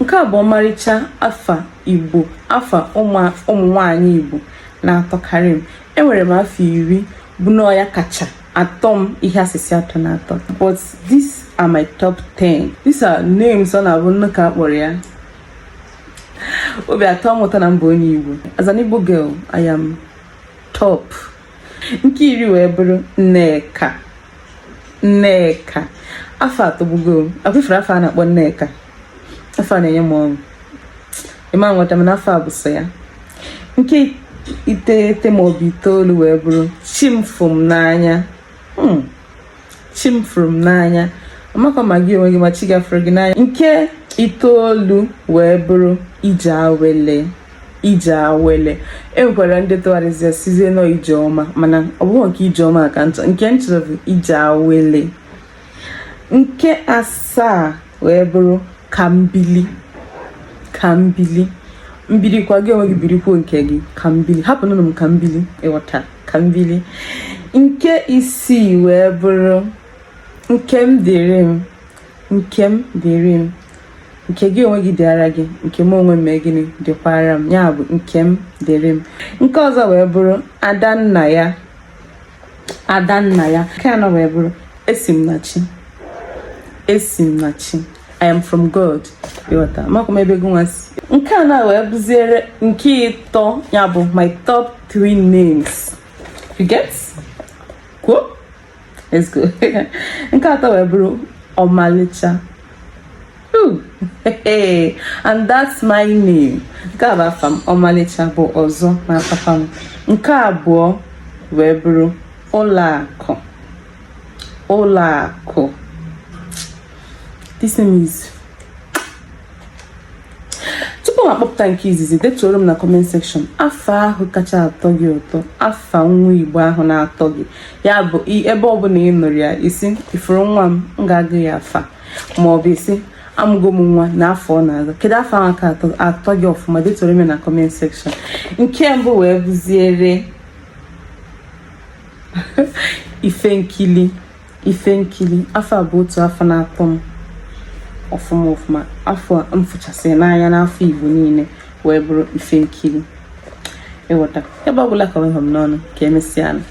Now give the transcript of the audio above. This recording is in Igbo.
Nke a bụ ọmarịcha afa Igbo, afa ụmụ nwaanyị Igbo na-atọkarị m. Enwere m afa iri bụ na ọ ya kacha atọ m ihe asịsị atọ na atọ. But these are my top 10. These are names ọ na-abụ m nụ ka a kpọrọ ya. Obi atọ m ụtọ na m bụ onye Igbo. As an Igbo girl, I am top. Nke iri wee bụrụ Nneka. nneka afa atọgbugo m afụfere afa a na-akpọ nneka afa a na-enye m ọṅụ ịma nweta m n'afa a bụ so ya nke iteghete maọbụ itoolu wee bụrụ chimfụmnanya hmm. chi m fụrụ m n'anya amakwa m ma gị onwe gị ma chi gị fụrụ gị n'anya nke itoolu wee bụrụ ije awele ije awele e nwekwara ndị tụgharịzi sịzie na ọ ije ọma mana ọ bụghị nke ije ọma ka m chọ nke m chọrọ bụ ije awele nke asaa wee bụrụ kambili kambili m bilikwa gị onwe gị birikwuo nke gị kambili hapụnụ m ka m bili ịghọta kambili nke isii wee bụrụ nkemdịrịm nkemdịrịm nke gị onwe gị dịara gị nke m onwe m mee gịnị dịkwara m ya bụ nkemdịrịm nke ọzọ wee bụrụ adannaya adannaya nke anọ wee bụrụ esimnachi esimnachi I am from God ịghọta makwa m ebe gị nwa si nke a na wee bụziere nke ịtọ ya bụ my top three names you get cool nke atọ wee bụrụ ọmalịcha and that's my name nke a bụ afa m ọmalịcha bụ ọzọ na papa m nke abụọ wee bụrụ ụlọakụ ụlọakụ this name is tupu m akpọpụta nke izizi detuoro m na comment section afa ahụ kacha atọ gị ụtọ afa nwa igbo ahụ na-atọ gị ya bụ ebe ọbụla ị nụrụ ya ị sị ị fụrụ nwa m m ga-agụ ya afa ma ọ bụ ị sị amụgo m nwa na afa ọ na-aza kedu afa ahụ ka atọ gị ọfụma detuoro m na comment section nke mbụ wee bụziere ifenkili ifenkiri afa a bụ otu afa na-atọ m ọfụma ọfụma afa m fụchasịrị n'anya n'afa igbo niile wee bụrụ ifenkiri ịghọta ebe ọ bụla ka ọ ha m n'ọnụ ka emesịa